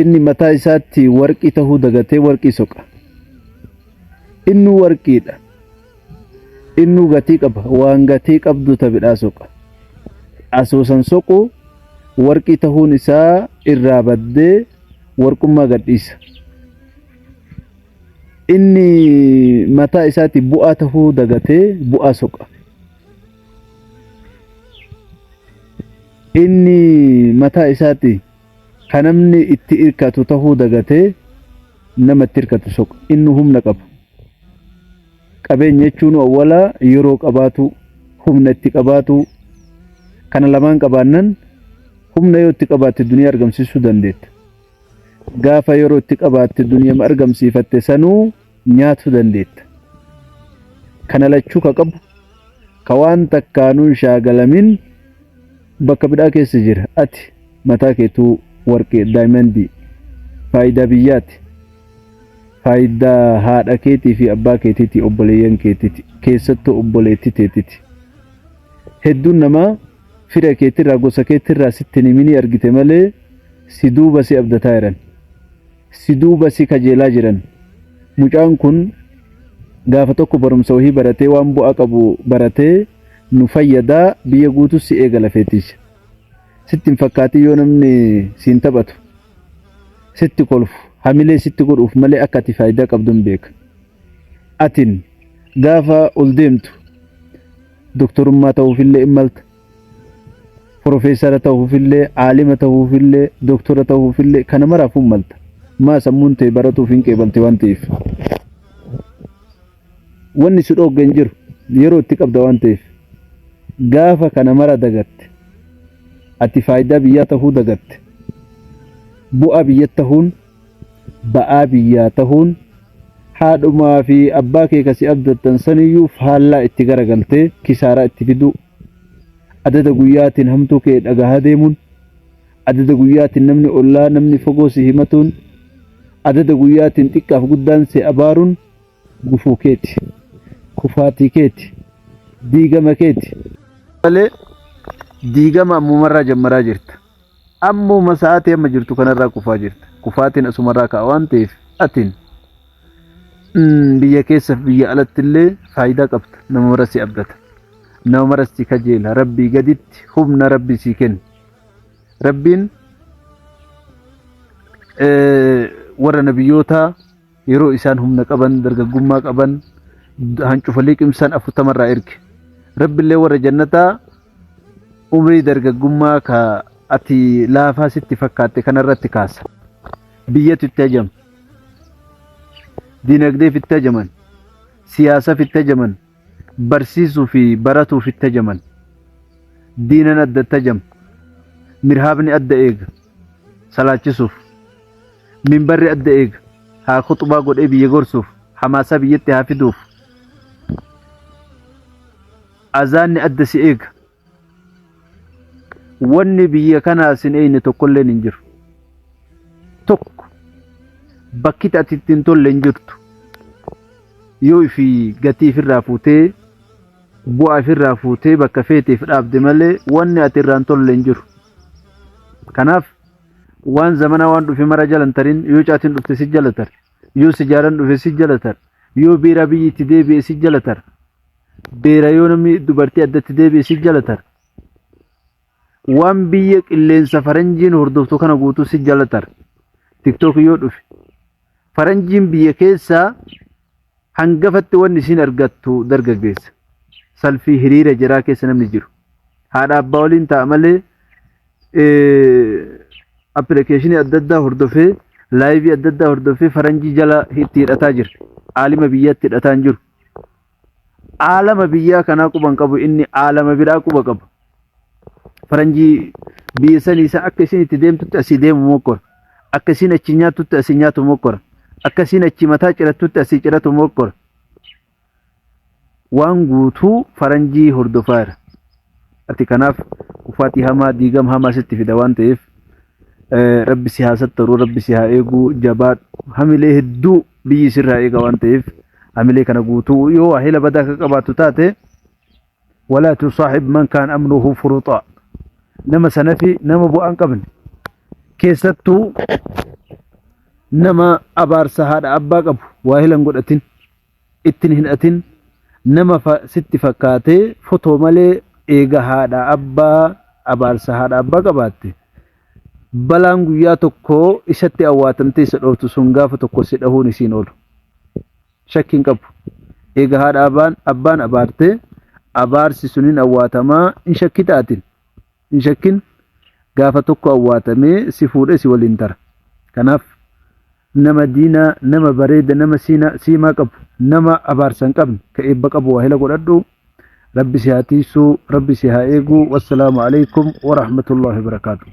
inni mataa isaatti warqii tahuu dagatee warqii soqa innuu warqiidha innuu gatii qaba waan gatii qabdu tabidhaa soqa asoosan soqu warqii tahuun isaa irraa baddee warqummaa gadhiisa inni mataa isaatti bu'aa tahuu dagatee bu'aa soqa inni mataa isaatti kan namni itti hirkatu tahuu dagatee nama itti hirkatu soqa inni humna qabu qabeenya jechuun awwalaa yeroo qabaatu humna itti qabaatu kana lamaan qabaannan humna yoo itti qabaatte duniyaa argamsiisuu dandeetta gaafa yeroo itti qabaatte duniyaa argamsiifatte sanuu nyaatuu dandeetta. Kana lachuu ka qabu ka waan takkaanuu hin shaagalamin bakka bidhaa keessa jira. Ati mataa keetuu warqii, daayimandii, faayidaa biyyaati, faayidaa haadha keetii fi abbaa keetiiti, obboleeyyan keetiiti, keessattuu obboleettii teetiiti. Hedduun namaa fira keetirraa, gosa keetirraa sitti hin himinii argite malee si duuba si abdataa jiran. si duuba si kajeelaa jiran. Mucaan kun gaafa tokko barumsa wahii baratee waan bu'aa qabu baratee nu fayyadaa biyya guutuu si eega lafee tiyya. Sitti hin fakkaatin yoo namni siin taphatu sitti kolfu hamilee sitti godhuuf malee akka ati faayidaa qabdu hin beeka. Atin gaafa ol deemtu doktorummaa ta'uufillee hin malta. Profeesara tahuufillee, aalima tahuufillee, doktora tahuufillee kana maraafuu malta. Maa sammuun tee baratuuf hin qeebalti waan ta'eef. Wanni si dhoogge hin jiru yeroo itti qabda waan ta'eef. Gaafa kana mara dagatte. Ati faayidaa biyyaa tahuu dagatte. Bu'aa biyyatti tahuun ba'aa biyyaa tahuun haadhumaa fi abbaa kee kasi abdattan saniyyuu faallaa itti garagaltee kisaaraa itti fiduu adada guyyaatiin hamtuu kee dhagahaa deemuun adada guyyaatiin namni ollaa namni fagoo si himatuun adada guyyaatiin xiqqaaf guddaan si abaaruun gufuu keeti kufaatii keeti diigama keeti malee diigama ammumarraa jammaraa jirta. Ammuma sa'aatii amma jirtu kanarraa kufaa jirta. Kufaatiin asumarraa ka'a waan ta'eef atin mm, biyya keessaf biyya alatti illee faayidaa qabda. Nama mara si abdata. Nama mara si kajeela. Rabbii gaditti humna rabbii sii kenna. Rabbiin eh, warra nabiyyootaa Yeroo isaan humna qaban, dargaggummaa qaban, hancufa liqimsan afurtama irraa erge. Rabbillee warra jannataa umrii dargaggummaa ka ati laafaa sitti fakkaatte kanarratti kaasa. Biyyatu itti hajama. Dinagdeef itti hajaman. Siyaasaaf itti hajaman. barsiisuu fi baratuuf itti ajaman. Diinan adda itti ajama. Mirhaabni adda eega. Salaachisuuf. Minbarri adda eega. Haa khuxbaa godhee biyya gorsuuf. Hamaasaa biyyatti haa fiduuf. Azaanni adda si eega. wanni biyya kanaa sin eeyne tokkolleen hin jiru tokko bakki ati itti hin tolle hin jirtu yoo ifi gatii ifirraa fuutee bu'aa ifirraa fuutee bakka feeteef dhaabde malee wanni ati irraa hin tolle hin jiru kanaaf waan zamana waan dhufe mara jalan tarin yoo caatiin dhufte si jalatar yoo sijaaran dhufe si jalatar yoo biiraa biyyi itti deebi'e si jalatar beera yoo namni dubartii addatti deebi'e si jalatar waan biyya qilleensa faranjiin hordoftu kana guutuu si jalatar tiktook yoo dhufe faranjiin biyya keessaa hangafatti wanni isiin argattu dargaggeessa salfii hiriira jiraa keessa namni jiru haadha abbaa waliin ta'a malee appilikeeshinii adda addaa hordofee laayivii adda addaa hordofee faranjii jala itti hidhataa jira aalima biyyatti hidhataa hin jiru aalama biyyaa kanaa quba hin qabu inni aalama biraa quba qaba. Faranjii biyya sanii isa akka isin itti deemtutti asii deemu mokkora. Akka isin achi nyaattutti asii nyaatu mokkora. Akka isin achi mataa cirattutti asii ciratu mokkora. Waan guutuu faranjii hordofaa jira. Ati kanaaf uffati hamaa diigam hamaa sitti fida waan ta'eef Eh, rabbi si haa sattaru rabbi si haa eegu jabaadhu hamilee hedduu biyyi sirraa eega waan ta'eef hamilee kana guutuu yoo waahila badaa akka qabaattu taate walaa tusaaxib man kaan amnuhu furuxaa nama sanafi nama bu'aa hin qabne keessattuu nama abaarsa haadha abbaa qabu waahila hin godhatin ittin hin atin nama sitti fakkaatee fotoo malee eega haadha abbaa abaarsa haadha abbaa qabaatte balaan guyyaa tokko isatti awwaatamtee isa dhooftu sun gaafa tokko si dhahuun isiin oolu shakkiin qabu eega haadha abbaan abbaan abaarte abaarsi sun hin awwaatamaa hin shakkitaatin Hin shakkin gaafa tokko awwaatamee si fuudhee si waliin tara. Kanaaf nama diinaa, nama bareeda, nama siinaa, siimaa qabu, nama abaarsa hin qabne, ka eebba qabu waahila godhadhu. Rabbi si haa tiiysu, Rabbi si haa eegu. Wassalaamu alaikum wa rahmatullahi wa barakaatuh.